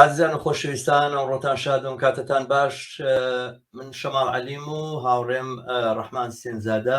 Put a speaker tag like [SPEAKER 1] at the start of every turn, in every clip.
[SPEAKER 1] ئازیزان و خۆشەویستان ئەو ڕۆتان شادۆم کاتتان باش من شەماڵ عەلیم و هاوڕێم ڕەحمان سێنزادە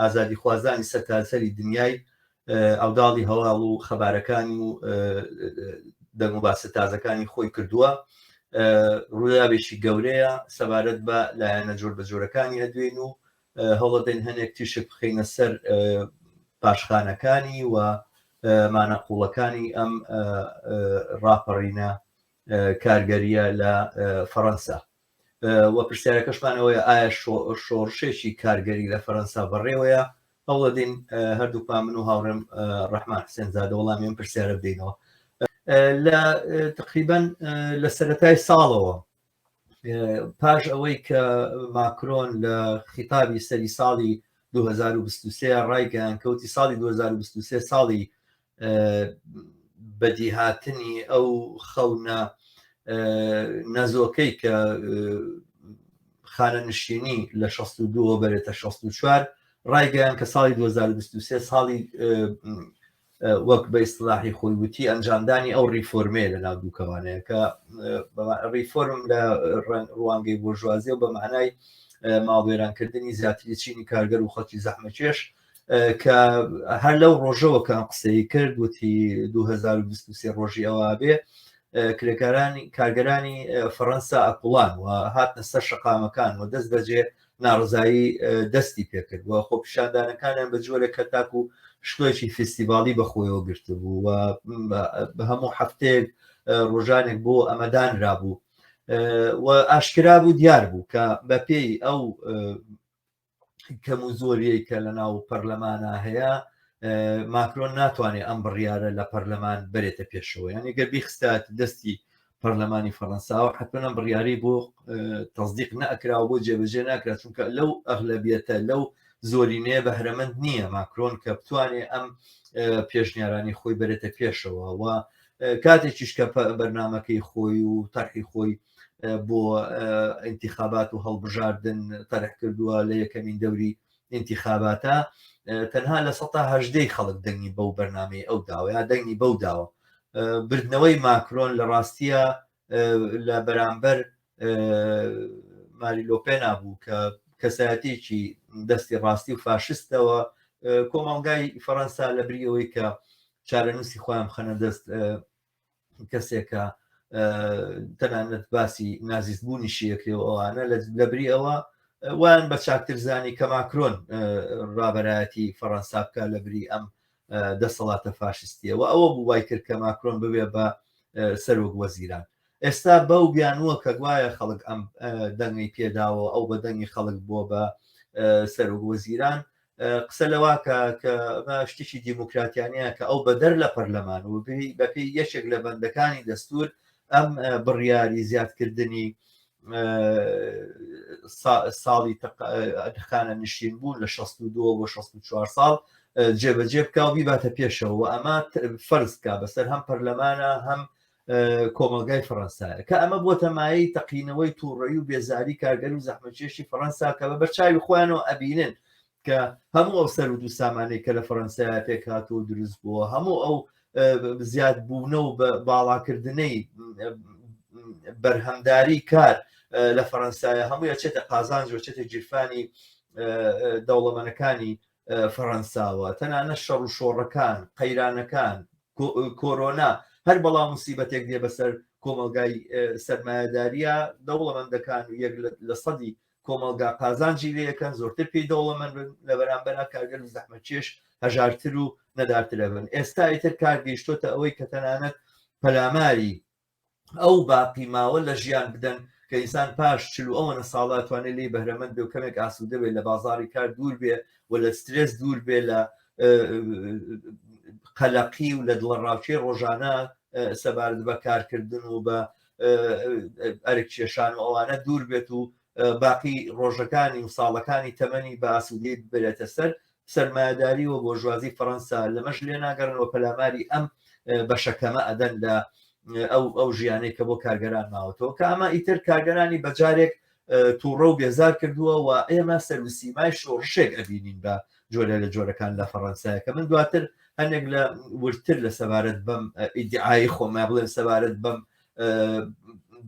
[SPEAKER 1] ئازادیخوازانی سەرتاسەری دنیای عەوداڵی هەواڵ و خەبارەکانی و دەنگ و باسە تازەکانی خۆی کردووە. ڕووداوێکی گەورەیە سەبارەت بە لایەنە جۆر بە جۆرەکانی ئەدوێن و هەوڵەدەین هەنێک تیشک بخینە سەر پاشخانەکانی و مانە قوڵەکانی ئەم ڕاپەڕینە کارگەریە لە فەڕەنسا وە پرسیارەکەشمان ئەوەیە ئایا شۆڕشێکی کارگەری لە فەرەنسا بەڕێوەیە هەوڵەدین هەردووکمان من و هاوڕێم ڕحمان حسێن زادە وەڵامیان پرسیارە بدەینەوە لە تقریبان لە سەتای ساڵەوە پاش ئەوەی کە ماکرۆن لە خیتابی سەری ساڵی 2023 ڕایگەیان کەوتی ساڵی 2023 ساڵی بەدیهاتنی ئەو خەونە نەزۆکەی کە خانەنشینی لە 62 بەرێتە 64 ڕایگەیان کە ساڵی 2023 ساڵی وەک بە ئیسلاحی خۆی وتی ئەنجامدانی ئەو ریفۆرمێ لە ناو دووکەوانەیە کە ریفۆرم لە ڕوانگەی بۆژوازیە و بە مانای ماڵوێرانکردنی زیاتری چینی کارگەر و خەڵکی زەحمەکێش کە هەر لەو ڕۆژەوە کە قسەی کرد وتی 2023 ڕۆژی ئەوە بێ کرێکارانی کارگەرانی فەڕەنسا ئەقلان و هاتنە سەر شقامەکان و دەست بەجێ ناڕزایی دەستی پێکرد و خۆپیشاندانەکانیان بە جۆرە کە تاکو شتۆێکی فیستیڤالی بەخۆیەوە گرتبوو و بە هەموو هەفتەیەک ڕۆژانێک بۆ ئەمەدانرا بوو و ئاشکرا بوو دیار بوو کە بەپێی ئەو کەم و زۆریەی کە لە ناو پەرلەمانە هەیە ماکرۆن ناتوانێت ئەم بڕیارە لە پەرلەمان بەرێتە پێشەوە یان گەر بیخستات دەستی پەرلەمانی فەەنساوە حتمەە بڕیاری بۆ تەزدیق نەکراوە بۆ جێبەجێ ناکرا چونکە لەو ئەغلبیەتە لەو زۆرینەیە بەهرەمەند نییە ماکرۆن کە بتوانێ ئەم پێشنیارانی خۆی بەرێتە پێشەوە و کاتێکیش کە بەرنمەکەی خۆی و تەرحی خۆی بۆ ئینتیخابات و هەڵبژاردن تەرح کردووە لە یەکەمین دەوری ئینتیخاباتە تەنها لە سەهدەی خەڵک دەنگی بەو بەرنمەی ئەو داوە یا دەنگی بەو داوە بردنەوەی ماکرۆن لە ڕاستیە لە بەرامبەر ماریلۆپێنا بوو کە کەسایەتێکی دەستی ڕاستی و فاشستەوە کۆمەڵگای فەەنسا لە بریەوەی کە چارەنووسی خۆیان خەنە دەست کەسێکە تەنانەت باسی نازیست بوونی شیەکرێ و ئەوانە لە بری ئەوە وان بە چاکترزانی کە ماکرۆن ڕابەرایەتی فەڕەنسا بکە لە بری ئەم دەسەڵاتە فاشستیەوە ئەوە بوو وای کرد کە ماکرۆن ببێ بە سەرۆک وەزیران ئێستا بەو بیانووە کە گوایە خەڵک ئەم دەنگی پێداوە ئەو بە دەنگی خەڵک بووە بە سەرۆک وەزیران قسە لەواکە کە شتێکی دیموکراتیانەیە کە ئەو بەدەر لە پەرلەمان و بەپی یەکێک لە بەندەکانی دەستور ئەم بڕیاری زیادکردنی ساڵی تەقانە نشین بوون لە 62 بۆ 64 ساڵ جێبەجێ بکە و بیباتە پێشەوە ئەمە فەرزکە بەسەر هەم پەرلەمانە هەم کۆمەلگای فەڕەنسایە کە ئەمە بۆ تەمایی تەقینەوەی تووڕەی و بێزاری کارگەر و زەحمەکێشی فەڕەنسا کە بە بەرچوی خۆیانەوە ئەبینن کە هەموو ئەو سەر و دوو سامانەی کە لە فەڕەنسایە پێکات و دروست بووە هەموو ئەو زیاد بوونە و باڵاکردنەی بەرهەمداری کار لە فەەنسایە هەموو چێتە قازانج و چێتە گیرفانی دەوڵەمەنەکانی فەڕەنساوە تەنانە شەڕ و شۆڕەکان قەیرانەکان کۆرۆنا هەر بەڵا مسیبەتێک دێ بەسەر کۆمەلگای سەرمایهداریە دەوڵەمەندەکان و یەک لە سەدی کۆمەلگا قازانجی لەکەن زۆرتر پێی دەوڵەمەند بن لە بەرامبەر کارگەر و زەحمەچێش هەژارتر و نەدارترە بن ئێستا ئیتر کار گەیشتۆتە ئەوەی کە تەنانەت پەلاماری ئەو باقی ماوە لە ژیان بدەن کە ئینسان پاش چل و ئەوەنە ساڵە توانێت لێی بەهرەمەند بێ و کەمێک ئاسوودە بێت لە بازاری کار دوور بێ و لە سترێس دوور بێ لە قەلەقی و لە دڵە ڕاوچێ ڕۆژانە سەبارەت بە کارکردن و بە ئەرک کێشان و ئەوانە دوور بێت و باقی ڕۆژەکانی و ساڵەکانی تەمەنی بە ئاسوودەی ببرێتە سەر سەرمایەداری و بۆرژوازی فەرەنسا لەمەش لێ ناگەڕێن و پەلاماری ئەم بەشەکەمە ئەدەن لە ئەو ئەو ژیانەی کە بۆ کارگەران ماوەتەوە کە ئەمە ئیتر کارگەرانی بەجارێک تووڕە و بێزار کردووە و ئێمە سەروسیمای شۆڕشێک ئەبینین بە جۆرە لە جۆرەکان لە فەڕەنسایە کە من دواتر هەندێک لە ورتر لە سەبارەت بەم ئیدعای خۆمە بڵێن سەبارەت بەم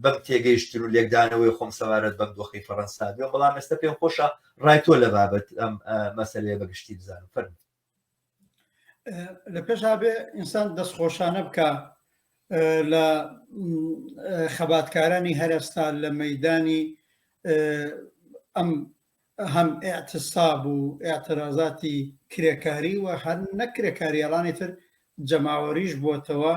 [SPEAKER 1] بەم تێگەیشتن و لێکدانەوەی خۆم سەبارەت بەم دۆخی فەڕەنسا بێ بەڵام ئێستا پێم خۆشە ڕای تۆ لە بابەت ئەم مەسلەیە بەگشتی بزانم فەرم
[SPEAKER 2] لە پێشا بێ ئینسان دەستخۆشانە بکە لە خەباتکارانی هەرستا لە مەدانی ئەم هەم ئیعتساب و ئیعترازاتی کرێکاری و هەر نەک کرێکاری ئەڵانی تر جەماوەریش بۆتەوە،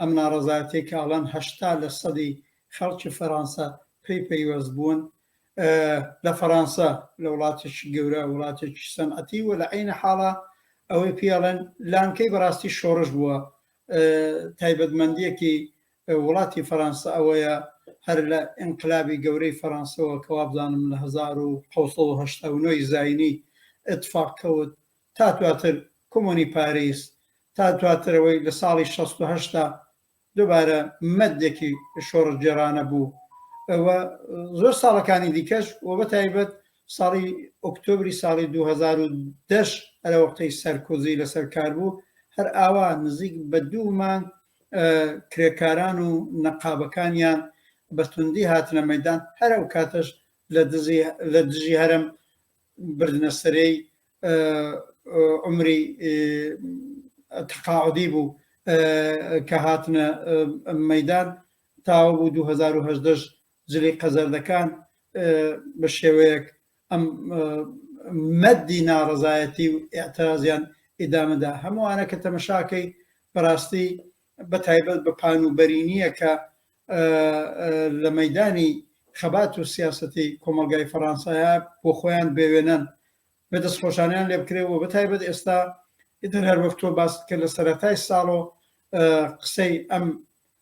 [SPEAKER 2] ئەم ناڕەزایەتیەی کە ئەڵێن هەشتا لە سەدی خەڵکی فەرانسە پێی پەیوەست بوون لە فەرانسە لە وڵاتێکی گەورە وڵاتێکی سەنعەتی و لە عینە حاڵە ئەوەی پێڵێن لانکەی بەڕاستی شۆڕش بووە تایبەتمەندیەکی وڵاتی فەرانسە ئەوەیە هەر لە ئینقلابی گەورەی فەرانسەوە کە وابزانم لە هەزار و حەوت سەد و هەشتا و نۆ ی زاینی ئیتفاق کەوت تا دواتر کۆمۆنی پاریس تا دواتر ئەوەی لە ساڵی شەست و هەشت دا دوبارە مەدێکی شۆڕشگێڕانە بوو و زۆر ساڵەکانی دیکەش و بە تایبەت ساڵی ئۆکتۆبری ساڵی 2010 ئەرەوەقتەی سەرکۆزی لەسەر کار بوو هەر ئاوا نزیک بە دوو مانگ کرێکاران و نەقابەکانیان بە توندی هاتنە مەدان هەر ئەو کاتەش لە دژی هەرم بردنە سەرەی عمری تقاعدی بوو کە هاتنە مەدان تاوە بوو 2010 زلیقە زەردەکان بە شێوەیەک ئەم مەدی ناڕەزایەتی و ئێعترازیان ئیدامەدا هەمووانە کە تەمەشاکەی بەڕاستی بە تایبەت بە پان و بەرینیە کە لە مەدانی خەبات و سیاستی کۆمەلگای فەڕانسایە بۆ خۆیان بێوێنەن بە دەست خۆشانیان لێ بکرێەوە بە تایبەت ئێستا ئیتر هەر وەکتۆ باست کە لە سەرەتای ساڵۆ قسەی ئەم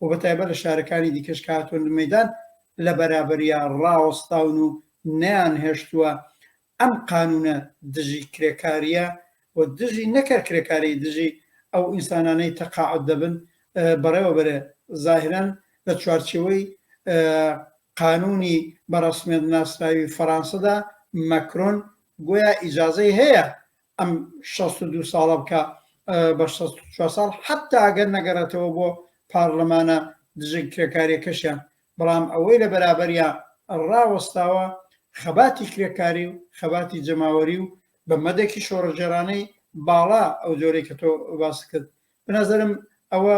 [SPEAKER 2] و بە تایبەت لە شارەکانی دیکەش کە هاتوونە مەیدان لە بەرابەریا ڕاوەستاون و نەیانهێشتووە ئەم قانوونە دژی کرێکارییە و دژی نەک هەر کرێکاری دژی ئەو ئینسانانەی تەقاعد دەبن بەڕێوە بەرێ زاهرەن لە چوارچەوەی قانونی بەڕسمێت ناسراوی فەرانسەدا مەکرۆن گویا ئیجاازەی هەیە ئەم شەست و دوو ساڵە بکا بە شەست و چوار ساڵ حەتا ئەگەر نەگەڕێتەوە بۆ پارلەمانە دژە کرێکاریەکەشیان بەڵام ئەوەی لە بەرابەریا ڕاوەستاوە خەباتی کرێکاری و خەباتی جەماوەری و بە مەدەکی شۆڕەجێرانەی باڵا ئەو جۆرەی کە تۆ باس کرد بنەزەرم ئەوە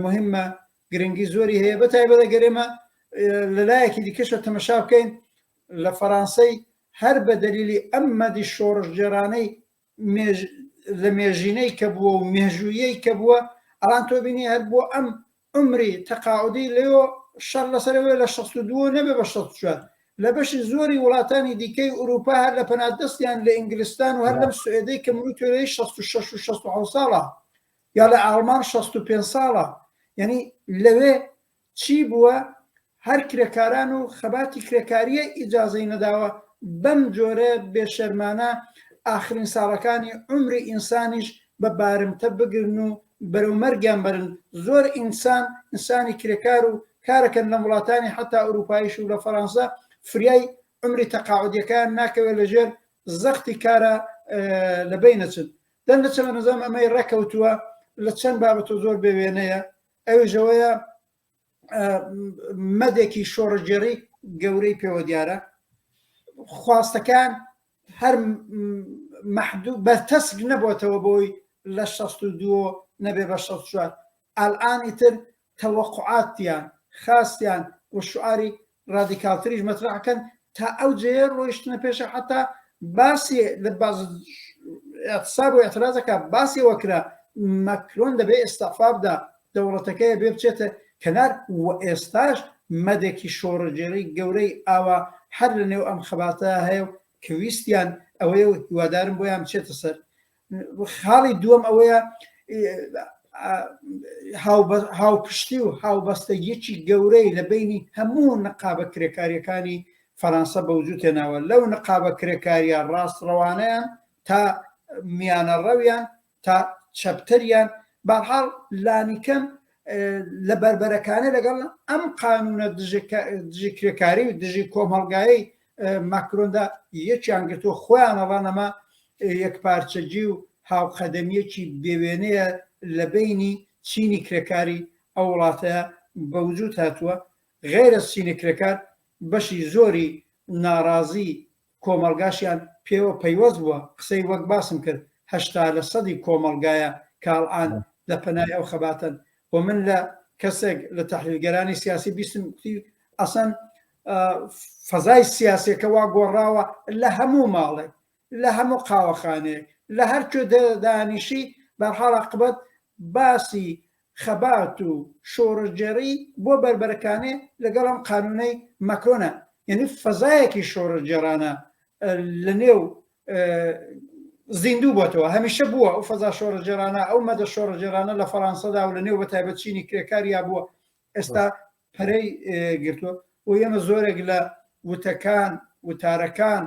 [SPEAKER 2] مهمە گرنگی زۆری هەیە بە تایبەتە گەرێمە لە لایەکی دیکەشە تەمەشا بکەین لە فەرانسەی هەر بە دەلیلی ئەم مەدی شۆڕشگێڕانەی مێژ لە مێژینەی کە بووە و مێژوویەی کە بووە ئەڵان تۆ بینی هەر بۆ ئەم عمری تەقاعدی لەۆ شەڕ لەسەرەوەی لە 62 نەبێ بە 64 لە بەشی زۆری وڵاتانی دیکەی ئوروپا هەر لە پەنادەستیان لە ئینگلستان و هەر لەم سوئێدەی کە منو تۆێی 66 و 67 ساڵە یا لە ئاڵمان 65 ساڵە یعنی لەوێ چی بووە هەر کرێکاران و خەباتی کرێکاریە ئیجازەی نەداوە بەم جۆرە بێ شەرمانە ئاخرین ساڵەکانی عومری ئینسانیش بە بارمتە بگرن و بەرەو مەرگیان بەرن زۆر ئینسان ئینسانی کرێکار و کارەکەن لەم وڵاتانی حتا ئوروپایش و لە فەرانسە فریای عمری تەقاعدیەکان ناکەوێت لە ژێر زەختی کارە لە بینەچن دەنگەچەمە نظام ئەمەی ڕێکەوتووە لە چەند بابەتۆ زۆر بێوێنەیە ئەویش ئەوەیە مەدێکی شۆڕگێڕی گەورەی پێوە دیارە خواستەکان هەر مەحدوو بەرتەسک نەبووتەوە بۆی لە 16 نەبێ بە 16 ئالانی تر تەوەقعاتیان خاستیان و شعاری ڕادیکاڵتریش مەترەح کەن تا ئەو جێیە ڕۆیشتنە پێشە حتا باسی لە باز اعتصاب و اعتراضەکە باسی وەکرا مەکرۆن دەبێ ئێستافابدا دەوڵەتەکەی بێ بچێتە کەنار و ئێستاش مەدێکی شۆڕەگێری گەورەی ئاوا هەر لە نێو ئەم خەباتە هەیە و کە ویستیان ئەوەیە و هیوادارم بۆیان بچێتە سەر خاڵی دووەم ئەوەیە هاوپشتی و هاوبەستەگیەکی گەورەی لە بینی هەموو نقابە کرێکاریەکانی فەرەنسا بە وجود تێناوە لەو نقابە کرێکاریە ڕاستڕەوانیان تا میانە ڕەویان تا چەپتەریان بەحاڵ لانیکەم لە بەربەرەکانە لەگەڵ ئەم قانونە دژی کرێکاری و دژی کۆمەڵگایی ماکرۆندا یەکیان گرتووە خۆیانەڵان ئەمە یەک پارچەجی و هاوقەدەمیەکی بێوێنەیە لە بینی چینی کرێکاری ئەو وڵاتە بە وجود هاتووە غێرە سینە کرێکار بەشی زۆری ناڕازی کۆمەلگاشیان پێوە پەیوەست بووە قسەی وەک باسم کرد هەشتا لە سەدی کۆمەلگایە کاڵان لە پەنای ئەو خەباتن و من لە کەسێک لە تحلیلگەرانی سیاسی بیستم ئەسەن فەزای سیاسیەکە وا گۆڕاوە لە هەموو ماڵێک لە هەموو قاوەخانەیەک لە هەر کوێ دانیشی بەرحاڵ عقبەت باسی خەبات و شۆڕشگێڕی بۆ بەربەرەکانێ لەگەڵ ئەم قانونەی مەکرۆنە یعنی فەزایەکی شۆڕشگێڕانە لە نێو زیندوو بۆتەوە هەمیشە بووە ئەو فەزا شۆڕژێرانە ئەو مەدە شۆڕژێرانە لە فەڕانسەدا و لە نێو بە تایبەت چینی کرێکاریا بووە ئێستا پەرەی گرتووە و ئێمە زۆرێک لە وتەکان وتارەکان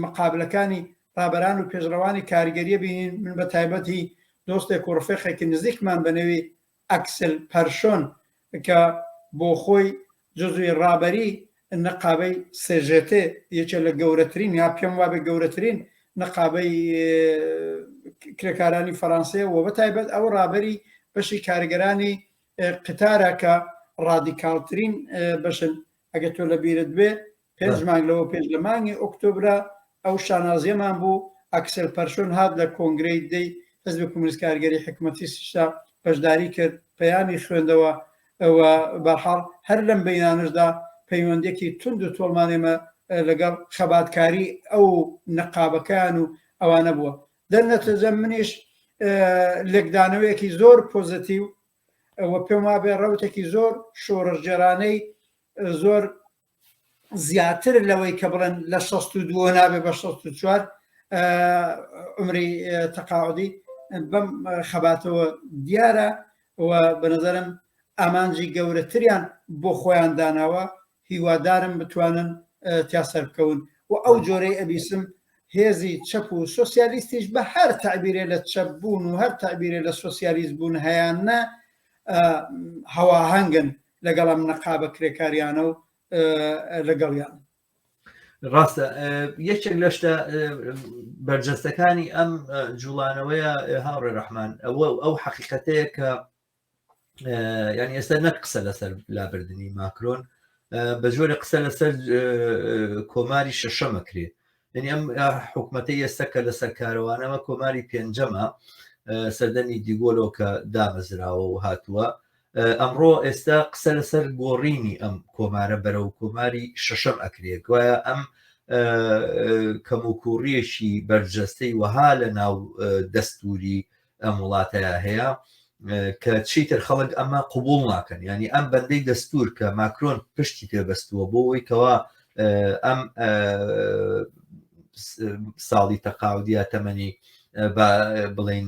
[SPEAKER 2] مقابلەکانی ڕابەران و پێشڕەوانی کاریگەریە بینین من بە تایبەتی دۆستێک و ڕفێقێکی نزیکمان بەنەوی ئەکسل پەرشۆن کە بۆ خۆی جزوی ڕابەری نەقابەی سێژێتێ یەکێ لە گەورەترین یا پێم وابێ گەورەترین نەقابەی کرێکارانی فەرانسەیە و بە تایبەت ئەو ڕابەری بەشی کارگەرانی قتارە کە ڕادیکاڵترین بەشن ئەگە تۆ لە بیرت بێ پێنج مانگ لەوە پێش لە مانگی ئۆکتۆبرا ئەو شانازیەمان بوو ئەکسل پەرشۆن هات لە کۆنگرەی دەی حزب کومنیست کارگەری حکومەتی سیشا بەشداری کرد پەیامی خوێندەوە ئەوە بەحاڵ هەر لەم بەینانشدا پەیوەندێکی تونند و تۆڵمانێمە لەگەڵ خەباتکاری ئەو نەقابەکان و ئەوانە بووە دەرنەتەجە منیش لێکدانەوەیەکی زۆر پۆزەتیو ئەوە پێم وابێ ڕوتێکی زۆر شۆڕژگەرانەی زۆر زیاتر لەوەی کە بڵێن لە 16 نابێ بە 16 عمری تەقاعدی بەم خەباتەوە دیارە و بەنظرم ئامانجی گەورەتریان بۆ خۆیان داناوە هیوادارم بتوانن تیا سەربکەون و ئەو جۆرەی ئەبیسم هێزی چەپ و سۆسیالیستیش بە هەر تعبیرێ لە چەپ بوون و هەر تعبیرێ لە سۆسیالیست بوون هەیان نە هەواهنگن لەگەڵ ئەم نەقابە کرێکاریانە و لەگەڵیان
[SPEAKER 1] ڕاستە یەکێک لە شتە بەرجەستەکانی ئەم جوڵانەوەیە هاوڕێ ڕەحمان ئەوە ئەو حەقیقەتەیە کە یعنی ئێستا نەک قسە لەسەر لابردنی ماکرۆن بە جۆرە قسە لەسەر کۆماری شەشەمە کرێت یعنی ئەم حکوومەتی ئێستا کە لەسەر کارەوانەمە کۆماری پێنجەمە سەردەمی دیگۆلۆ کە دامەزراوە و هاتووە ئەمڕۆ ئێستا قسە لەسەر گۆڕینی ئەم کۆمارە بەرە و کۆماری شەشەم ئەکرێت گوایە ئەم کەموکوڕیەکی بەرجەستەی وەها لە ناو دەستوری ئەم وڵاتەیە هەیە کە چیتر خەڵک ئەمە قوبول ناکەن ینی ئەم بەندەی دەستور کە ماکرۆن پشتی پێبەستووە بۆ ئەوی کەوا ئەم ساڵی تەقاودیا تەمەنی بڵین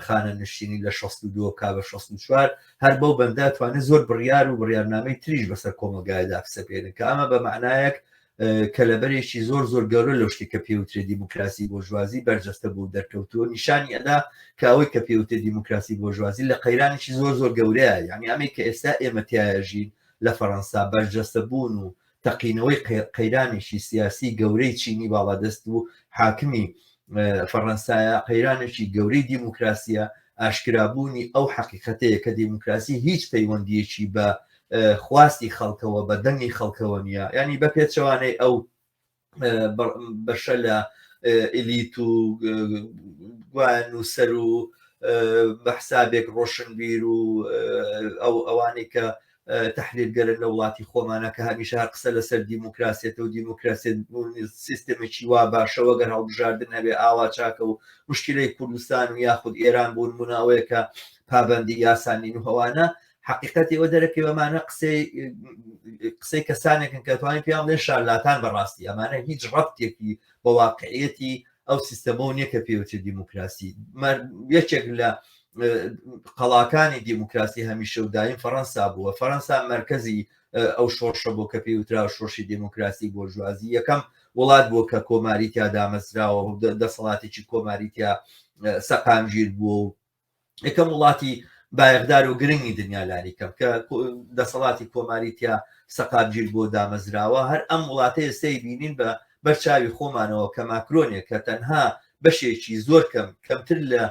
[SPEAKER 1] خانە نشینی لە 62 کا بە 64 هەر بەو بەندە توانێت زۆر بڕیار و بڕیارنامەی تریش بەسەر کۆمەلگایدا بسەپێنن کە ئەمە بە معنایەک کەلەبەرێکی زۆر زۆر گەورە لەو شتی کە پێوترێ دیموکراسی بۆژوازی بەرجەستە بوو دەرکەوتووە نیشانی ئەدا کە ئەوەی کە پێوتێ دیموکراسی بۆژوازی لە قەیرانێکی زۆر زۆر گەورەیە یعنی ئەمە کە ئێستا ئێمەتیایژین لە فەەنسا بەرجەستە بوون و تەقینەوەی قەیرانێکی سیاسی گەورەی چینی باڵادەست و حاکمی فەەنسایە قەیرانێکی گەورەی دیموکراسیە ئاشکرابوونی ئەو حەقیقەتەیە کە دیموکراسی هیچ پەیوەندیەکی بە خواستی خەڵکەوە بە دەنگی خەڵکەوە نیە ینی بە پێچەوانەی ئەو بەشە لە ئلیت و گوان و سەر و بە حسابێک ڕۆشنبیر و ئەو ئەوانەی کە تحلیلگەرن لە وڵاتی خۆمانە کە هەمیشە هەر قسە لەسەر دیموکراسێت و دیموکراسێت سیستمێکی وا باشەوە گەر هەڵبژاردن هەبێ ئاوا چاکە و مشکلەی کوردستان و یاخود ئێران بوون مناوەیەکە پابندی یاسانین و هەوانە حقیقەتی ئەوە دەرەکەی ئەمانە قسەی قسەی کەسانێکن کە توانین پێیان بڵێن شارلاتان بەڕاستی ئەمانە هیچ ڕەبتێکی بە واقعەتی ئەو سیستەمە و نیە کە پێوچێت دیموکراسی یەکێک لە قەڵاکانی دیموکراسی هەمیشە و دایم فەەنسا بووە فەەنسا مرکزی ئەو شۆڕشە بۆ کە پێی وترا شۆشی دیموکراسی بۆ ژوازی یەکەم وڵات بۆ کە کۆماری تیا دامەزراوە دەسەڵاتێکی کۆماری تیا سەقامگیر بووە و یەکەم وڵاتی بایەخدار و گرنگی دنیا لانی کەم کە دەسەڵاتی کۆماری تیا سەقامگیر بۆ دامەزراوە هەر ئەم وڵاتە ئێستای بینین بە بەرچاوی خۆمانەوە کە ماکرۆنێک کە تەنها بەشێکی زۆر کەم کەمتر لە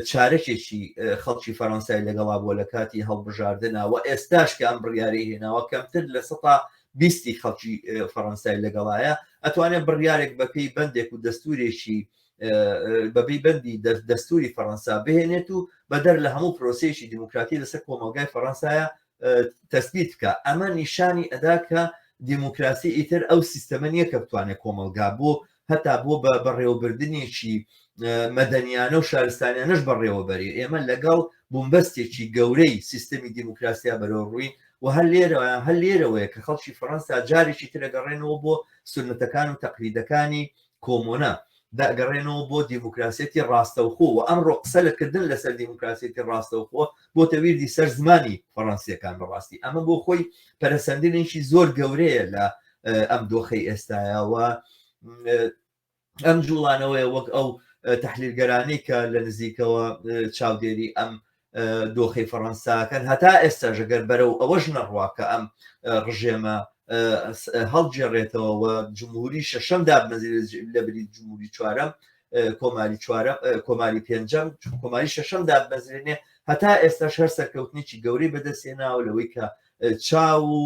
[SPEAKER 1] چارەکێکی خەڵکی فەرەنسای لەگەڵا بۆ لە کاتی هەڵبژاردنەوە ئێستاش کە ئەم بڕیارەی هێناوە کەمتر لە سە بیستی خەڵکی فەڕەنسای لەگەڵایە ئەتوانێت بڕیارێک بەپی بەندێک و دەستورێکی بەبی بەندی دەستوری فەەنسا بهێنێت و بەدەر لە هەموو پرۆسیشی دیموکراتی لەسەر کۆمەلگای فەەنسایە تەسبیت بکە ئەمە نیشانی ئەدا کە دیموکراسی ئیتر ئەو سیستەمە نییە کە بتوانێت کۆمەلگا بۆ هەتا بۆ بە بەڕێوەبردنێکی مەدەنیانە و شارستانیانەش بەڕێوەبەری ئێمە لەگەڵ بوومبەستێکی گەورەی سیستەمی دیموکراسیا بەرەو ڕووی و هەر لێرە هەر لێرەوەیە کە خەڵکی فەەنسا جارێکی ترەگەڕێنەوە بۆ سنتەکان و تەقلیدەکانی کۆمۆنە دەگەڕێنەوە بۆ دیموکراسیەتی ڕاستەوخۆ و ئەمڕۆ قسە لە کردن لەسەر دیموکراسیەتی ڕاستەوخۆ بۆتە ویردی سەر زمانی فەڕەنسیەکان بەڕاستی ئەمە بۆ خۆی پەرەسەندنێکی زۆر گەورەیە لە ئەم دۆخەی ئێستایەوە ئەم جوڵانەوەی وەک ئەو تحلیلگەرانی کە لە نزیکەوە چاودێری ئەم دۆخی فەڕەنساکەن هەتا ئێستا ژەگەر بەرەو ئەوەش نەڕوا کە ئەم ڕژێمە هەڵگێڕێتەوە و جمهوری شەشەم دابنەزیر لە بری جمهوری چوارەم کۆماری چوارە کۆماری پێنجەم کۆماری شەشەم دابنەزرێنێ هەتا ئێستاش هەر سەرکەوتنیی گەورەی بەدەستێناوە لەوەی کە چاو و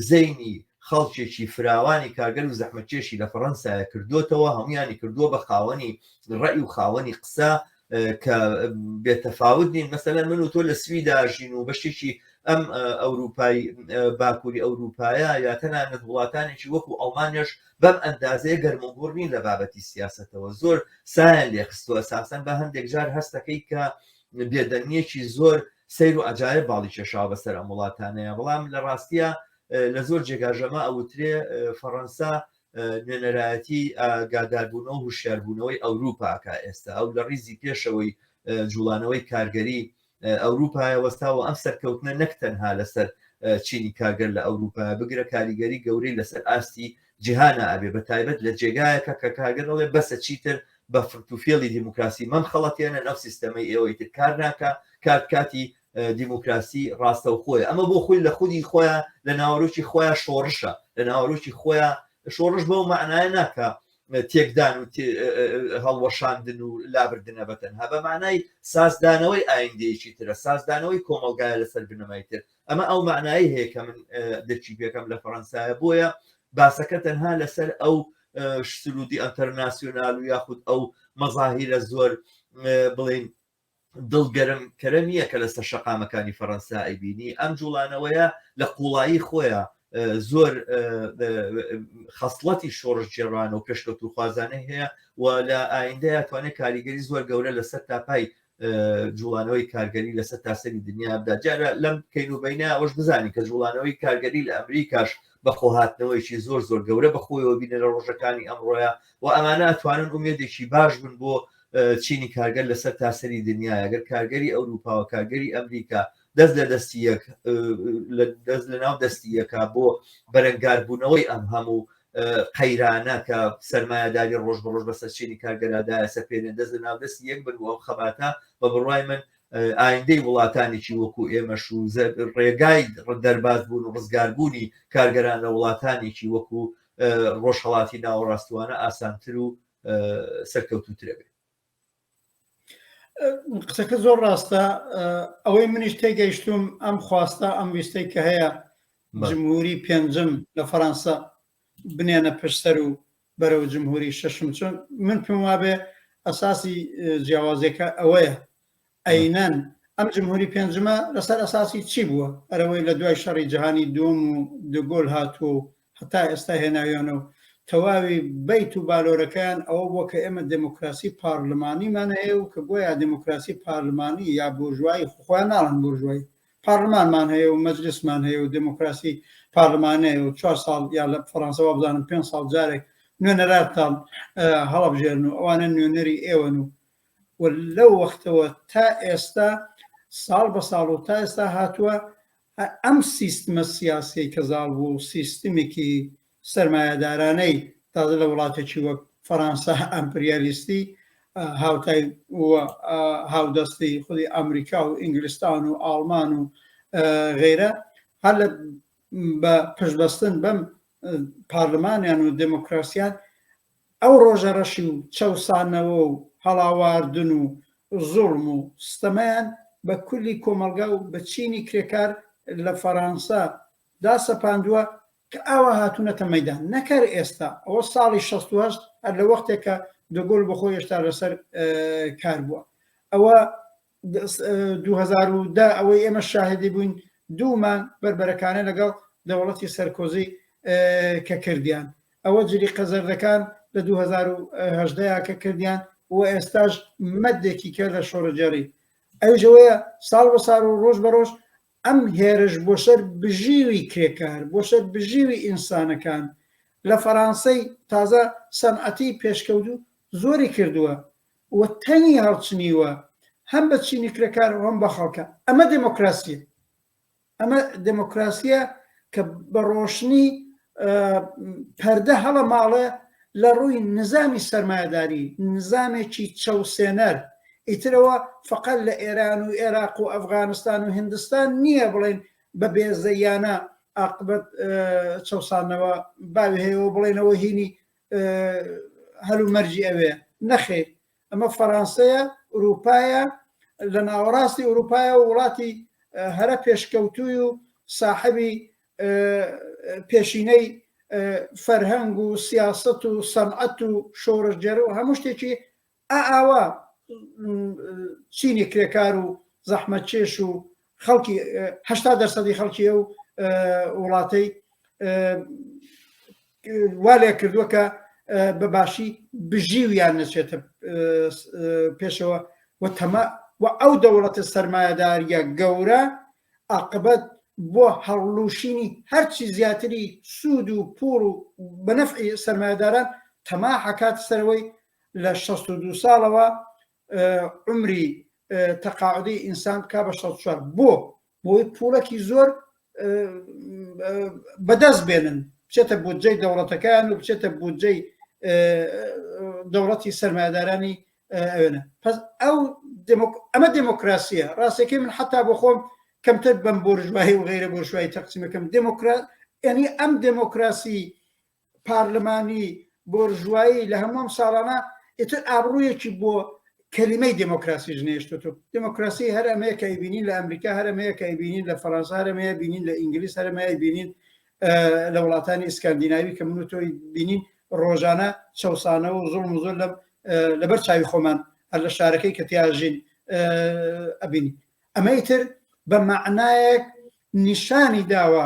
[SPEAKER 1] زەینی خەڵکێکی فراوانی کارگەر و زەحمەکێشی لە فەڕەنسایە کردوتەوە هەمویانی کردووە بە خاوەنی ڕێی و خاوەنی قسە کە بێتەفاوت نین مەسەلەن من و تۆ لە سوی داژین و بەشتێکی ئەم ئەوروپای باکووری ئەوروپایە یا تەنانەت وڵاتانێکی وەکو ئەڵمانێش بەم ئەندازەیە گەرموگوڕ نین لە بابەتی سیاستەوە زۆر سایان لێخستوە ساسەن بە هەندێک جار هەستەکەی کە بێدەنگیەکی زۆر سیر و ئەجاایە باڵی کێشاوە بەسەر ئەم وڵاتانەیە بەڵام لە ڕاستە لە زۆر جێگاژەما ئەوترێ فەڕەنسا نوێنەرایەتی ئاگاداربوونەوە هوشیاربوونەوەی ئەوروپاکە ئێستا ئەو لە ڕیزی پێشەوەی جوڵانەوەی کارگەری ئەوروپای وەستاوە ئەم سەرکەوتنە نەک تەنها لەسەر چینی کارگەر لە ئەوروپا بگرە کاریگەری گەورەی لەسەر ئاستی جیهانە ئەبێ بە تایبەت لە جێگایەکە کە کارگەر دەڵێ بەسە چیتر بە فرتوفێڵی دیموکراسی مەم خەڵەتێنە نەو سیستەمەی ئێوەی تر کار ناکە کاتکاتی دیموکراسی ڕاستەوخۆیە ئەمە بۆ خۆی لە خودی خۆیان لە ناوەرۆکی خۆیان شۆڕشە لە ناوەرۆکی خۆیان شۆڕش بەو معناە ناکە تێکدان و هەڵوەشاندن و لابردنە بە تەنها بە معنای سازدانەوەی ئایندەیەکی ترە سازدانەوەی کۆمەلگایە لەسەر بنەمای تر ئەمە ئەو معنایی هەیە کە من دەچی پێکەم لە فەەنسایە بۆیە باسەکە تەنها لەسەر ئەو سرودی ئەتەرناسیۆنال و یاخود ئەو مەزاهیرە زۆر بڵین دڵ گەرم کەرە نییە کە لەسەر شەقامەکانی فەڕەنسا ئەیبینی ئەم جوڵانەوەیە لە قوڵایی خۆیە زۆر خەسڵەتی شۆڕش جێڕان و پێشکەوت و خوازانەی هەیە و لە ئایندەیە توانێت کاریگەری زۆر گەورە لەسەر تاپای جوڵانەوەی کارگەری لەسەر تاسەری دنیابدا جارە لەم کەین و بینە ئەوش بزانین کە جوڵانەوەی کارگەری لە ئەمریکاش بەخۆهاتنەوەیکی زۆر زۆر گەورە بەخۆیەوە بینە لە ڕۆژەکانی ئەمڕۆیە و ئەمانە توانن ئومێدێکی باش بن بۆ چینی کارگەر لە سەر تاسەری دنیایە گەر کارگەری ئەوروپاوە کارگەری ئەمریکا دەست لە دەستی یەک دەست لە ناو دەستی یەکە بۆ بەرەنگاربوونەوەی ئەم هەموو قەیرانە کە سەرمایهداری ڕۆژ بە ڕۆژ بە سەرچینی کارگەرادایە سەپێنێن دەست لە ناو دەست یەک بن و خەباتە بە بڕای من ئایندەی وڵاتانێکی وەکو ئێمەش و ڕێگای دەرباز بوون و ڕزگاربوونی کارگەران لە وڵاتانێکی وەکو ڕۆژهڵاتی ناوەڕاستوانە ئاسانتر و سەرکەوتوترە بێت
[SPEAKER 2] قسەکە زۆر ڕاستە ئەوەی منیش تێگەیشتوم ئەم خواستە ئەم ویستەی کە هەیە جمهوری پێنجم لە فەەنسا بنێنە پشسەر و بەرەو جمهوری شەشم چۆن من پێم وابێ ئەساسی جیاوازەکە ئەوەیە ئەینەن، ئەم جمهوری پێنجمە لەسەر ئەساسی چی بووە؟ ئەرەوەی لە دوای شەڕی جەهانی دووەم و دۆگۆل هاتووە و هەتا ئێستا هێناویانە و تەواوی بەیت و بالۆرەکەیان ئەوە بووە کە ئێمە دێمۆکراسی پارلمانیمان هەیە و کە گۆیا دێمۆکراسی پارلمانی یا بۆرژوایی، خۆ خۆیان ناڵێن بۆرژوایی، پارلمانمان هەیە و مەجلسمان هەیە و دێمۆکراسی پارلمانی هەیە و چوار ساڵ یا لە فەڕانسە وابزانم پێنج ساڵ جارێک نوێنەراتان هەڵەبژێرن و ئەوانە نوێنەری ئێوەن و و لەو وەختەوە تا ئێستا ساڵ بە ساڵ و تا ئێستا هاتووە ئەم سیستمە سیاسەی کە زاڵ بوو سیستمێکی سەرمایەدارانەی تازە لە وڵاتێکی وەک فەرەنسا ئەمپریالیستی هاوتای هاودەستی خودی ئەمریکا و ئینگلستان و ئاڵمان و غیرە هەر لە بە پشبەستن بەم پارلمانیان و دموکراسیان ئەو ڕۆژە ڕەشی و چەوسانەوە و هەڵاواردن و زوڵم و ستەمەیان بە کولی کۆمەڵگا و بە چینی کرێکار لە فەرانسە دا سەپاندوە کە ئاوا هاتونەتە مەیدان نەک هەر ئێستا ئەوە ساڵی شەست و هەشت هەر لە وەختێکە دۆگۆل بۆ خۆی هێشتا لە سەر کار بوە ئەوە دوو هەزار و دە ئەوەی ئێمە شاهدی بووین دوو مانگ بەربەرەکانە لەگەڵ دەوڵەتی سەرکۆزی کە کردیان ئەوە جلی قەزەردەکان لە 2010 کە کردیان و ئێستاش مەدێکی کە لە شۆڕجێڕی ئەوژەوەیە ساڵ بە ساڵ و ڕۆژ بە ڕۆژ ئەم هێرش بۆ سەر بژیوی کرێکار بۆ سەر بژیوی ئینسانەکان لە فەرانسەی تازە سەنعەتی پێشکەوت و زۆری کردووە و تەنی هەڵچنیوە هەم بە چینی کرێکار و هەم بە خەڵکە ئەمە دێمۆکراسیە ئەمە دێمۆکراسیە کە بە ڕۆشنی پەردە هەڵە ماڵە لە ڕووی نزامی سەرمایەداری نزامێکی چەوسێنەر ئیترەوە فقط لە ئێران و عێراق و ئەفغانستان و هندستان نییە بڵێن بە بێزەیانە ئاقبەت چەسانەوە باوی هەیەەوە بڵێنەوە هینی هەل و مەرجی ئەوێ نەخێر ئەمە فەرانسەیە ئوروپایە لە ناوەڕاستی ئوروپایە و وڵاتی هەرە پێشکەوتوی و ساحبی پێشینەی فەرهەنگ و سیاست و سەمعەت و شۆڕژگەر و هەموو شتێکی ئا ئاوا چینی کرێکار و زەحمەتکێش و خەڵکی هەشتا دەرسەدی خەڵکی ئەو وڵاتەی وا لێ کردووە کە بە باشی بژیویان نەچێتە پێشەوە و تەما و ئەو دەوڵەتە سەرمایەداریە گەورە عقبەت بۆ هەڵلوشینی هەرچی زیاتری سوود و پور و بەنەفعی سەرمایەداران تەما حکات سەرەوەی لە شەست و دوو ساڵەوە عمری تەقاعدی ئینسان بکا بە شەست چوار بۆ بۆی پوڵەکی زۆر بەدەست بێنن بچێتە بودجەی دەوڵەتەکەیان و بچێتە بودجەی دەوڵەتی سەرمایدارانی ئەوێنە پس ئەو ئەمە دموکراسیە ڕاستەکەی من حتا بۆ خۆم کەمتر بەم بۆرژوایی و غیرە بۆرژوایی تەقسیمەکەم دموکرات ینی ئەم دموکراسی پارلمانی بۆرژوایی لە هەمووم ساڵانە ئیتر ئابروویەکی بۆ کەلیمەی دموکراسی ژنێشتوتو دموکراسی هەر ئەمەیەکە بینین لە ئەمریکا هەرمەیەکە بینین لە فەرەنسا هەرمەیە بینین لە ئینگلیس هەرمەیە بینین لە وڵاتانی ئسکاندیناوی کە من تۆی بینین ڕۆژانە چەسانەوە و زۆڵ زۆر لەم لەبەر چاوی خۆمان هەر لە شارەکەی کە تیاژین ئەبین ئەمەی تر بە معنایەک نیشانی داوە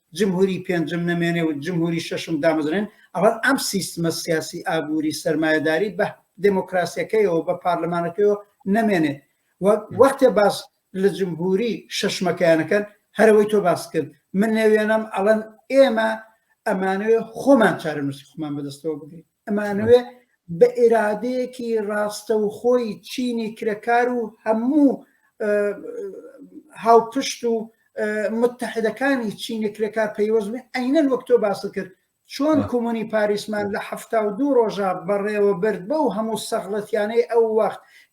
[SPEAKER 2] جمهوری پێنجم نەمێنێ و جمهوری شەشم دامەزرێن ئەڵەن ئەم سیستمە سیاسی ئابووری سەرمایەداری بە دموکراسیەکەیەوە بە پارلمانەکەەوە نەمێنێ وەختێ باس لە جمهوری شەشمەکەیانەکەن هەرەوەی تۆ باس کرد من نەوێنم ئەڵەن ئێمە ئەمانەوێ خۆمان چارەنووسی خۆمان بەدەستەوە بگرین ئەمانەوێ بە ئێرادەیەکی ڕاستەوخۆی چینی کرەکار و هەموو هاوپشت و متحدەکانی چینی کرێکار پەیوەزمێ ئەینەن وەک تۆ باس کرد چۆن کۆمۆنی پاریسمان لە هەفتا و دوو ڕۆژە بەڕێوە برد بەو هەموو سەغڵەتیانەی ئەو وەخت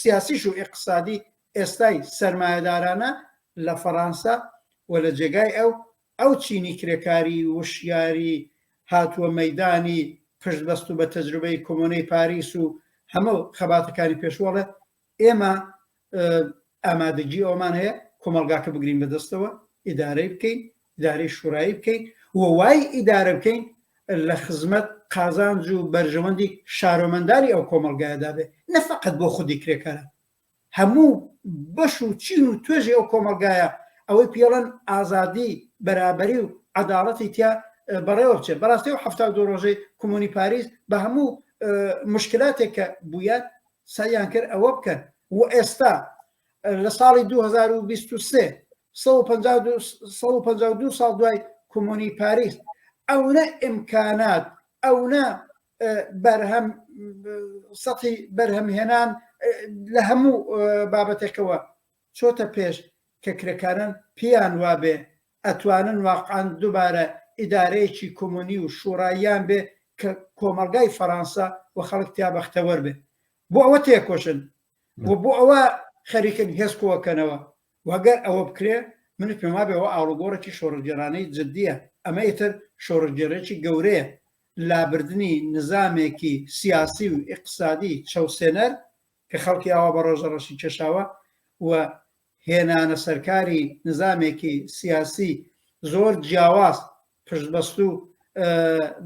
[SPEAKER 2] سیاسیش و ئیقتسادی ئێستای سەرمایەدارانە لە فەڕانسە و لە جێگای ئەو، ئەو چینی کرێکاری وشیاری هاتووە مەیدانی پشت بەستوو بە تەجروبەی کۆمۆنەی پاریس و هەمە خەباتەکانی پێشوو ئەڵێ ئێمە ئامادەگی ئەوەمان هەیە کۆمەڵگاکە بگرین بەدەستەوە، ئیدارەی بکەین ئیدارەی شوڕایی بکەین و وای ئیدارە بکەین لە خزمەت قازانج و بەرژەوەندی شارۆمەندانی ئەو کۆمەڵگایەدا بێت نە فەقەت بۆ خودی کرێکاران هەموو بەش و چین و توێژی ئەو کۆمەڵگایە ئەوەی پێڵەن ئازادی بەرابەری و عداڵەتی تیا بەڕێوە بچێت بەڕاستی و هەفتا دو ڕۆژەی کۆمۆنی پاریس بە هەموو مشکلاتێک کە بووە سەیان کرد ئەوە بکەن و ئێستا لە ساڵی 2023 ساڵ دوای کۆمۆنی پاریس ئەونە ئیمکانات ئەونە بەرهەم سەتی بەرهەمهێنان لە هەموو بابەتێکەوە چۆتە پێش کە کرێکارن پێیان وابێ ئەتوانن واقعان دووبارە ئیدارەیەکی کۆمۆنی و شوڕاییان بێ کە کۆمەلگای فەرانسا و خەڵک تیا بەختەوەر بێ بۆ ئەوە تێکۆشن و بۆ ئەوە خەریکن هێزکۆکەنەوە وەگەر ئەوە بکرێ منت پێما بێەوە ئاڵوگۆڕێکی شۆڕگێرانەی جددیە ئەمە ئیتر شۆڕگێرێکی گەورەیە لابردنی نظامێکی سیاسی و اقتصادی چەوسێنەر کە خەڵکی ئاوا بە ڕۆژە ڕەشی کێشاوە و هێنانە سەرکاری نزامێکی سیاسی زۆر جیاواز پشتبەست و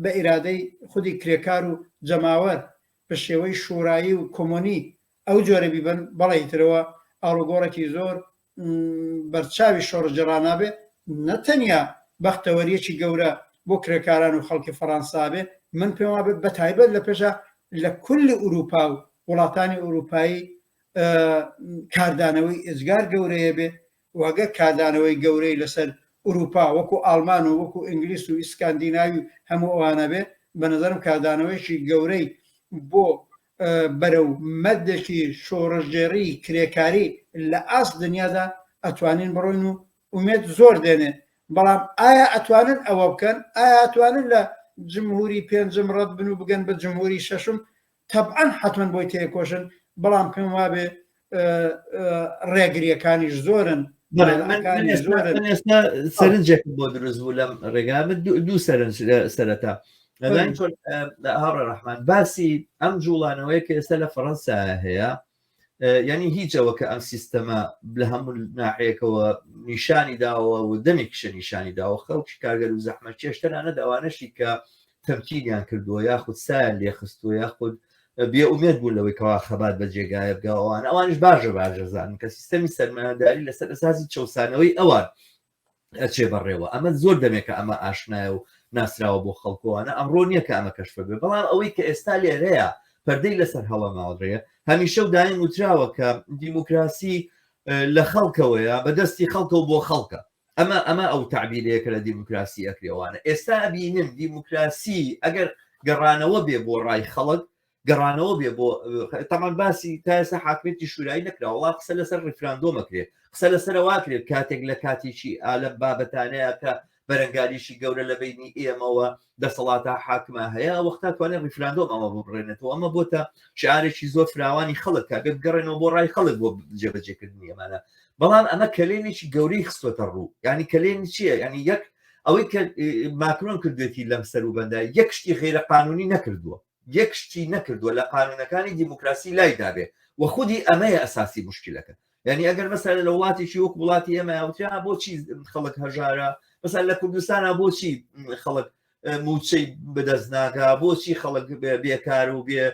[SPEAKER 2] بە ئیرادەی خودی کرێکار و جەماوەر بە شێوەی شورایی و کۆمۆنی ئەو جۆرە بیبن بەڵی ترەوە ئاڵوگۆڕێکی زۆر بەرچاوی شۆڕجێڕانابێ نەتەنیا بەختەوەریەکی گەورە بۆ کرێکاران و خەڵکی فەڕەنسابێ من پێم وابێت بە تایبەت لە پێشە لە کل ئوروپا و وڵاتانی ئوروپایی کاردانەوەی ئێجگار گەورەیە بێ و ئەگەر کاردانەوەی گەورەی لەسەر ئورووپا وەکو ئاڵمان و وەکو ئینگلیس و ئیسکاندیناوی و هەموو ئەوانە بێ بە نظرم کاردانەوەیشی گەورەی بۆ بەرە و مەدەکی شۆڕژێڕی کرێکاری لە ئاست دنیادا ئەتوانین بڕۆین و ئومێت زۆر دێنێ بەڵام ئایا ئەتوانن ئەوە بکەن ئایا ئەتوانن لە جمهوری پێنجم ڕەت بن و بگەن بە جمهوری شەشم تەبعەن حەتمەن بۆی تێکۆشن بەڵام پێم وابێ ڕێگریەکانیش زۆرن
[SPEAKER 1] سەرنجێک بۆ دروست بوو لەم ڕێگا دوو سەرنج سەرەتا هاوڕێ ڕحمان باسی ئەم جوڵانەوەی کە ئێستا لە فەڕەنسا هەیە یعنی هیچ ئەوە کە ئەم سیستەمە لە هەموو ناحەیەکەوە نیشانی داوە و دەمێک کشە نیشانی داوە خەڵکی کارگەر و زەحمە چێشتەرانە داوانەشی کە تەمکینیان کردووە یاخود سایان لێخستووە یاخود بێ ئومێت بوون لەوەی کەوا خەبات بە جێگایە بگەوان ئەوانش باژە باژەزان کە سیستەمی سەرمایهداری لەسەر ئەساسی چەسانەوەی ئەوان ئەچێ بەڕێوە ئەمە زۆر دەمێکە ئەمە ئاشنایە و ناسراوە بۆ خەڵکۆوانە ئەمڕۆ نییە کە ئەمە کەشفە بێ بەڵام ئەوەی کە ئێستا لێرەیە پەردەی لەسەر هەڵە ماوەڕێە هەمیشە و دایم وتراوە کە دیموکراسی لە خەڵکەوەیە بەدەستی خەڵکە و بۆ خەڵکە ئەمە ئەمە ئەو تعبیرەیە کە لە دیموکراسی ئەکرێوانە ئێستا بینن دیموکراسی ئەگەر گەڕانەوە بێ بۆ ڕای خەڵک گەڕانەوە بێ بۆ تەمان باسی تاسە حاکمێتی شورایی نەکراوە قسە لەسەر ڕیفراندۆمەکرێت قسە لەسەر واکرێت کاتێک لە کاتێکی ئالم بابەتانەیە کە بەرەنگاریشی گەورە لە بینی ئێمەوە دەسەڵاتە حاکمە هەیە وەختا توانێت ڕیفراندۆم ئەمە بڕێنێتەوە ئەمە بۆتە شارێکی زۆر فراوانی خەڵک کە بێت گەڕێنەوە بۆ ڕای خەڵک بۆ جێبەجێکردنی ئەمانە بەڵام ئەمە کەلێنێکی گەورەی خستۆتە ڕوو ینی کەلێن چییە ینی یەک ئەوەی کە ماکرۆن کردێتی لەم سەر و بەندای یەک شتی غیرە قانونی نەکردووە یەک شتی نەکردوە لە قانونەکانی دیموکراسی لای دابێ وە خودی ئەمەیە ئەساسی موشکیلەکە یانی ئەگەر مەسەلە لە وڵاتیی وەک وڵاتی ئێمە یاوترا بۆچی خەڵک هەژارە مەسەل لە کوردستانە بۆچی خەڵک موچەی بەدەست ناگا بۆچی خەڵک بێکار و بێ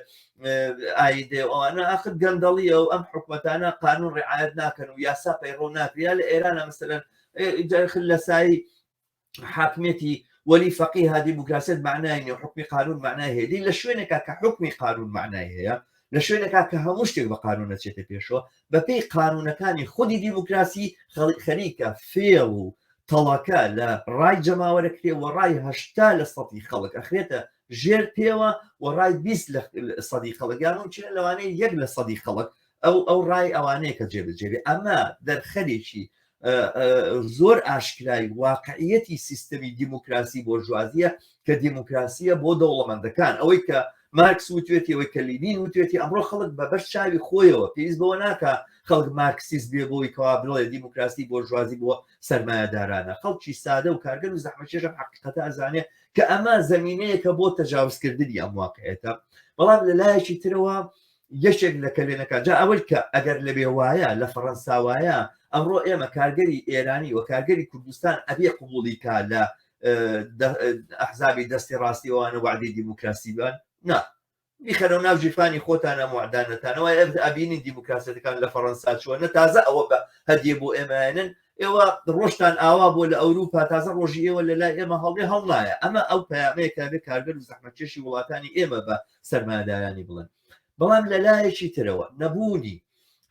[SPEAKER 1] ئایدێ ئەوانە ئاخر گەندەڵیە و ئەم حکومەتانە قانون ڕعاەت ناکەن و یاسا پەیڕۆ ناکریا لە ئێرانە مەسەرەن لە سایی حاکمێتی وەلی فەقی ها دیموکراسیت معنای نیە حکمی قانون معنای هێدی لە شوێنێکا کە حکمی قانون معنای هەیە لە شوێنێکا کە هەموو شتێک بە قانون نەچێتە پێشەوە بەپی قانونەکانی خودی دیموکراسی خەریکە فێڵ و تەڵەکە لە ڕای جەماوەرە کرێ و ڕای هەشتا لە سەدی خەڵک ئەخرێتە ژێر پێوە و ڕای بیست لە سەدی خەڵکیان و چێن لەوانەیە یەک لە سەدی خەڵک ئەو ئەو ڕای ئەوانەیە کە جێبجێبێ ئەمە دەرخەرێکی زۆر ئاشکرای واقعیەتی سیستەمی دیموکراسی بۆ ژوازیە کە دیموکراسیە بۆ دەوڵەمەندەکان ئەوەی کە مارکس وتێتی ئەوەی کە لینین وتێتی ئەمڕۆ خەڵک بە بەش چاوی خۆیەوە پێویست بەوە ناکە خەڵک مارکسیس بێ بۆی کەوا بڵێ دیموکراسی بۆ ژوازی بۆ سەرمایهدارانە خەڵکی سادە و کارگەر و زەحمەکێشە حقیقەتە ئەزانێ کە ئەمە زمینەیەکە بۆ تەجاوزکردنی ئەم واقعێتە بەڵام لە لایەکی ترەوە یەکێک لە کەلێنەکە جا ئەوەی کە ئەگەر لەبێ وایە لە فەڕەنسا وایە ئەمڕۆ ئێمە کارگەری ئێرانی و کارگەری کوردستان ئەبێ قوبولی کا لە ئەحزابی دەستی ڕاستیوانە وعدی دیموکراسی بان نا بیخەرەوە ناو جیفانی خۆتانە معدانەتانەوە ئەبینی دیموکراسەتەکان لە فەڕەنسا چوەنە تازە ئەوە بە هەدیێ بۆ ئێمەێنن ئێوە ڕۆشتان ئاوا بۆ لە ئەوروپا تازە ڕۆژی ئێوە لە لای ئێمە هەڵێ هەڵنایە ئەمە ئەو پامەیەکە بێ کارگەر و زەحمەکێشی وڵاتانی ئێمە بە سەرمایەدارانی بڵێن بەڵام لە لایەکی ترەوە نەبوونی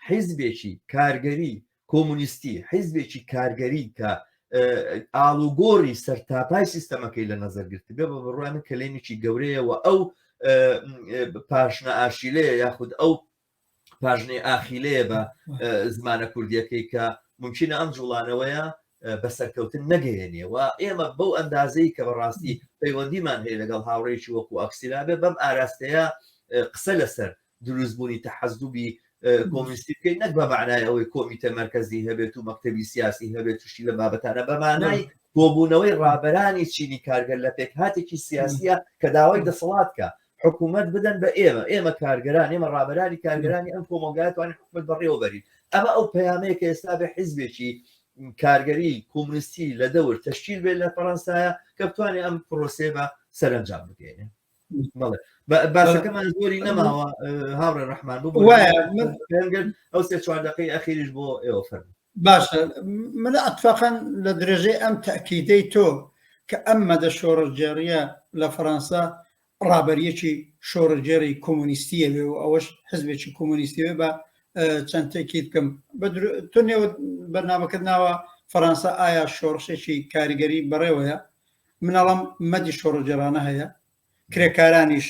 [SPEAKER 1] حیزبێکی کارگەری کۆمونیستی حیزبێکی کارگەری کە ئاڵوگۆڕی سەرتاپای سیستەمەکەی لە نەزەرگرت بێ بە بڕوانە کەلێنێکی گەورەیەوە ئەو پاشنە ئاشیلەیە یاخود ئەو پاژنەی ئاخیلەیە بە زمانە کوردیەکەی کە ممکنە ئەم جوڵانەوەیە بە سەرکەوتن نەگەیێنێ و ئێمە بەو ئەندازەی کە بەڕاستی پەیوەندیمان هەیە لەگەڵ هاوڕێکی وەکو ئەکسیلا بێ بەم ئاراستەیە قسە لەسەر دروستبوونی تەحەزدوبی کۆمیستی بکەین نەک بە معنای ئەوەی کۆمیتە مرکزی هەبێت و مەکتتەبی سیاسی هەبێت توشتی لە بابەتانە بەمانای کۆبوونەوەی ڕابەرانی چینی کارگەر لە پێکهاتێکی سیاسیە کە داوای دەسەڵات کە حکوومەت بدەن بە ئێمە ئێمە کارگەران ئێمە ڕابرانی کارگەرانی ئەم کۆمەلگاتوان حکومت بەڕێوەبەرین ئەمە ئەو پەیامەیە کە ئێستا بە حیزبێکی کارگەری کۆمنیستی لە دەور تشکیل بێت لە فەەنسایە کە بتوانێت ئەم پرۆسێ بە سەرنجام بگەێنێ باسەکەمان زۆری نەماوە هاوڕێ ڕحمان بۆ ئەو سێ چوار دقی ئەخیریش بۆ ئێوە فەرمو باشە
[SPEAKER 2] مەلا ئەتفاقا لە درێژەی ئەم تاکیدەی تۆ کە ئەم مەدە شۆڕژگێڕیە لە فەرەنسا ڕابەریەکی شۆڕژگێری کۆمۆنیستیە بێ و ئەوەش حزبێکی کۆمۆنیستیێ بە چەند تێکی بکەم تۆ نێوە بەرنمەکەت ناوە فەرەنسا ئایا شۆڕشێکی کاریگەری بەڕێوەیە منەڵم مەدی شۆڕژگێرانە هەیە کرێکارانیش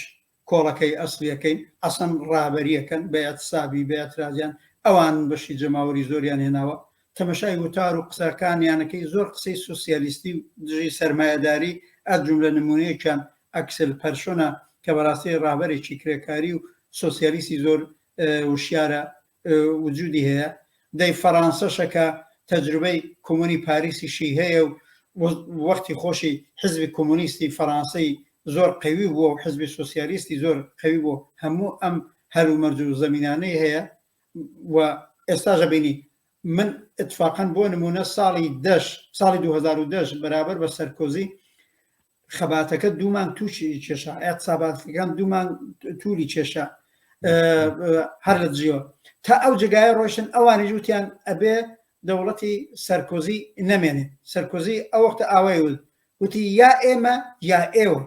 [SPEAKER 2] کۆڵەکەی ئەسڵیەکەی ئەسڵەن ڕابەریەکەن بە ئیعتسابی بە ئیعترازیان ئەوانن بەشی جەماوەری زۆریان هێناوە تەمەشای وتار و قسەکانیانەکەی زۆر قسەی سۆسیالیستی و دژی سەرمایەداری ئە جوملە نمونەیەکیان ئەکسل پەرشۆنە کە بەڕاستی ڕابەرێکی کرێکاری و سۆسیالیستی زۆر وشیارە وجودی هەیە دەی فەرانسەشە کە تەجروبەی کۆمۆنی پاریسیشی هەیە و وەختی خۆشی حزبی کۆمۆنیستی فەرانسەی زۆر قوی بووە و حزبی سوسیالیستی زۆر قوی بوو هەموو ئەم هەلومەرج و زەمینانەی هەیە و ئێستاش بینی من اتفاقا بۆ نمونە ساڵی دەش ساڵی 2010 بەرابەر بە سەرکۆزی خەباتەکە دوو مانگ تووشی کێشا ئەقساباتەکان دوو مانگ تووری کێشا هەر لە دژیەوە تا ئەو جگایە ڕۆشن ئەوانی جووتیان ئەبێ دەوڵەتی سەرکۆزی نەمێنێ سەرکۆزی ئەو وەختە ئاوای ول وتی یا ئێمە یا ئێوە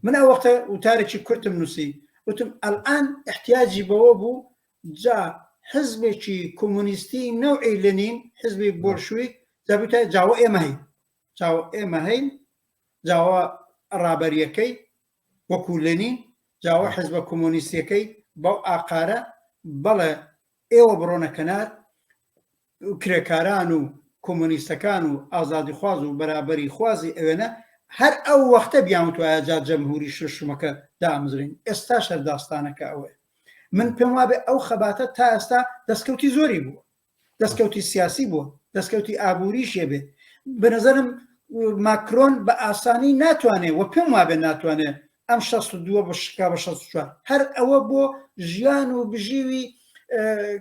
[SPEAKER 2] من ئەو وەختە وتارێکی کورتم نووسی وتم ئەلان احتیاجی بەوە بوو جا حزبێکی کۆمونیستی نەوعی لەنین حزبی بۆرشوی دەبتە جاوە ئێمە هەی چاوە ئێمە هەین جاوە ڕابەریەکەی وەکو لەنین جاوە حزبە کۆمۆنیسیەکەی بەو ئاقارە بەڵێ ئێوە بڕۆنە کەنار کرێکاران و کۆمۆنیستەکان و ئازادی خواز و بەرابری خوازی ئەوێنە هەر ئەو وەختە بیانتوایە جا جەمهوری شوشمەکە دامزرین ئێستا شەرداستانەکە ئەوەیە من پێم وابێ ئەو خەباتە تا ئێستا دەستکەوتی زۆری بووە دەستکەوتی سیاسی بووە دەستکەوتی ئابووری شێبێ بەنەزەرم ماکرۆن بە ئاسانی ناتوانێت وە پێم وابێ ناتوانێت ئەم 62 بە شکا بە 64 هەر ئەوە بۆ ژیان و بژیوی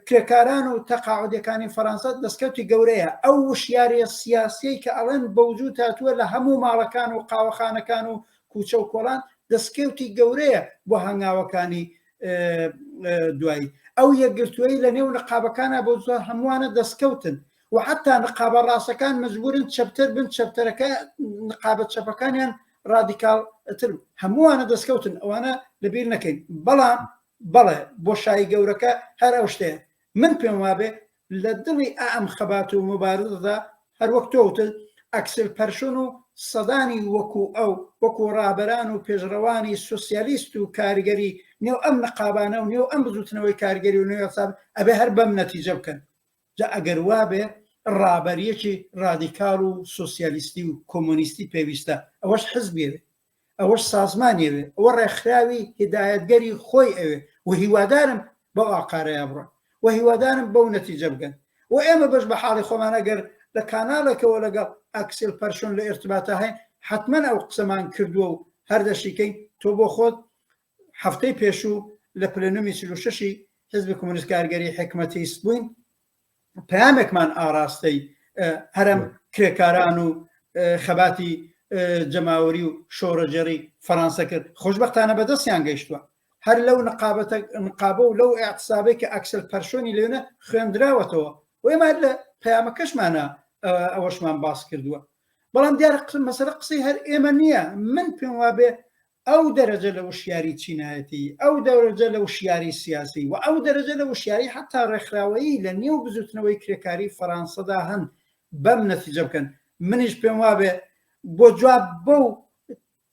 [SPEAKER 2] کرێکاران و تەقاعودەکانی فەرەنسا دەستکەوتی گەورەیە ئەو وشیارە سیاسی کە ئەڵێن بەوجود تاتووە لە هەموو ماڵەکان و قاوەخانەکان و کوچە و کۆڵان دەستکەوتی گەورەیە بۆ هەنگاوەکانی دوایی ئەو یەکگرتووی لە نێو نقابەکانە بۆ زۆر هەمووانە دەستکەوتن و حتا نقابە ڕاستەکان مجبورن چەپتر بن چەپتەرەکە نقابە چەپەکانیان ڕادیکال تر هەمووانە دەستکەوتن ئەوانە لەبیر نەکەین بەڵام بەڵێ بۆ شای گەورەکە هەر ئەو شتێ من پێم وابێ لە دڵی ئا ئەم خەبات و موبارزەدا هەر وەک تۆ وتت ئەکسل پەرشون و سەدانی وەکو ئەو، وەکو ڕابەران و پێشڕەوانی سوسیالیست و کارگەری نێو ئەم نقابانە و نێو ئەم بزوتنەوەی کارگەری و نێو یەکسان ئەبێ هەر بەم نەتیجە بکەن. جا ئەگەر وابێ ڕابەریەکی ڕادیکال و سوسیالیستی و کۆمۆنیستی پێویستە ئەوەش حزبی ئەوێ. ئەوەش سازمانی ئەوێ ئەوە ڕێکخراوی هیدایەتگەری خۆی ئەوێ و هیوادارم بەو ئاقارەیە بڕۆن و هیوادارم بەو نەتیجە بگەن و ئێمە بەش بە حاڵی خۆمان ئەگەر لە کاناڵێکەوە لەگەڵ ئەکسل پەرشۆن لە ئێرتباتا هەین حتمما ئەو قسەمان کردووە و هەردەشیکەین تۆ بۆ خۆت هەفتەی پێشوو لە پلەنومی چلوشەشی حزبی کۆمونیست کارگەری حکمەتیست بووین پامێکمان ئاراستەی هەرم کرێکاران و خەباتی جەماوەری و شۆڕەجێڕی فەرانسە کرد خۆشببختانە بەدەستیان گەیشتووە هەر لەو نقابەتە نقابە و لەو ئاقسابێک کە ئەکسل پەرشۆنی لێنە خوێندراوەتەوە وێمە لە پەیامەکەشمانە ئەوەشمان باس کردووە بەڵام دیارە مەسەرە قسەی هەر ئێمە نییە من پێم وابێ ئەو دەرەجە لە وشیاری چینایەتی، ئەو دەرەجە لە وشیاری سیاسی و ئەو دەرەجە لە وشیاری حەتا ڕێکخراوەیی لە نێو بزووتنەوەی کرێکاریی فەرانسەدا هەن بەم نەتیجە بکەن. منیش پێم وابێ بۆ جواب بەو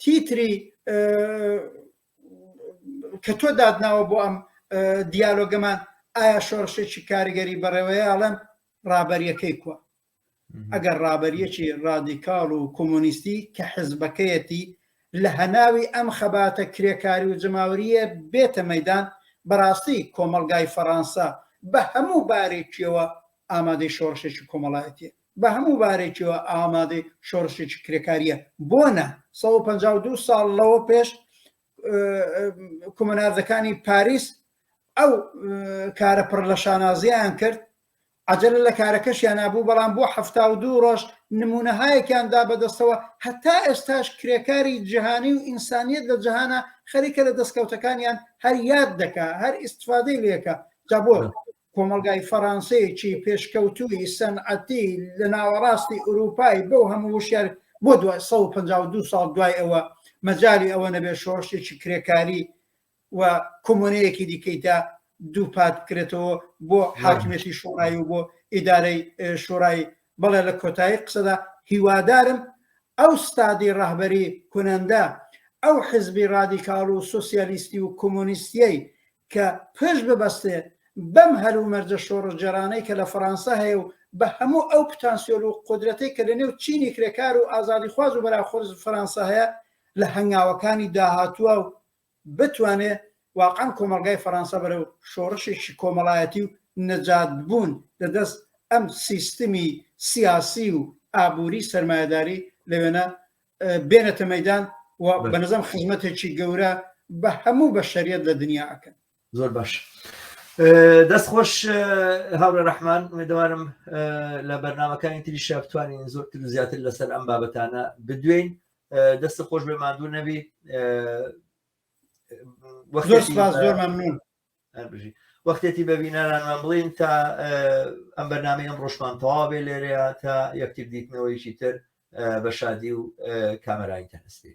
[SPEAKER 2] تیتری کە تۆ داتناوە بۆ ئەم دیالۆگەمان، ئایا شۆڕشێکی کاریگەری بەڕێوەیە؟ ئەڵێم ڕابەرییەکەی کووە؟ ئەگەر ڕابەریەکی ڕادیکاڵ و کۆمۆنیستی کە حزبەکەیەتی لە هەناوی ئەم خەباتە کرێکاری و جەماوەریە بێتە مەدان بەڕاستی کۆمەلگای فەڕانسە بە هەموو بارێکیەوە ئامادەی شۆڕشێکی کۆمەڵایەتیە بە هەموو بارێکیەوە ئامادەی شۆڕشێکی کرێکاریە بۆ نە 152 ساڵ لەوە پێش کۆمەناردەکانی پاریس ئەو کارە پڕ لە شانازیان کرد عەجەلە لە کارەکەشیانا بوو، بەڵام بۆ حەفتا و دوو ڕۆژ نموونەهایەکیان دا بە دەستەوە، هەتا ئێستاش کرێکاری جیهانی و ئینسانیەت لە جیهانا خەریکە لە دەستکەوتەکانیان هەر یاد دەکا، هەر ئیستفادەی لێ کا، جا بۆ کۆمەڵگای فەڕانسەیەکی پێشکەوتووی سەنعەتی لە ناوەڕاستی ئورووپای بەو هەموو وشیار بۆ دوای سەد و پەنجا و دوو ساڵ دوای ئەوە مەجالی ئەوە نەبێ شۆڕشێکی کرێکاری و کۆمۆنەیەکی دیکەی دا دووپات بکرێتەوە بۆ حاکمێتی شۆڕایی و بۆ ئیدارەی شۆڕایی بەڵێ لە کۆتایی قسەدا هیوادارم ئەو ستادی ڕەهبەری کونەندە ئەو حزبی ڕادیکاڵ و سوسیالیستی و کۆمۆنیستیەی کە پش ببەستێ بەم هەر و مەرجە شۆڕژجێرانەی کە لە فەڕەنسا هەیە و بە هەموو ئەو پتانسیۆل و قدرەتەی کە لە نێو چینی کرێکار و ئازادی خواز و بەراخۆز فەرەنسا هەیە لە هەنگاوەکانی داهاتووە و بتوانێت واقعەن کۆمەڵگای فەرانسە بەرەو شۆڕشێکی کۆمەڵایەتی و نەجاتبوون لە دەست ئەم سیستمی سیاسی و ئابووری سەرمایەداری لەوێنە بێنێتە مەیدان و بەنەزەم خزمەتێکی گەورە بە هەموو بەشەریەت لە دنیا ئەکەن. زۆر باش
[SPEAKER 1] دەست خۆش هاوڕێ ڕەحمان ئومێدەوارم لە بەرنمەکانی تری شە بتوانین زۆرتر و زیاتر لەسەر ئەم بابەتانە بدوێین دەست خۆش بێ مادوو نەبی وەختێتی بە بینەرانمان بڵین تا ئەم بەرنامی ئەم ڕۆژمان تەواوێ لێرەیە تا یەکتر دیتنەوەیکی تر بە شادی و کامەرای تەنستی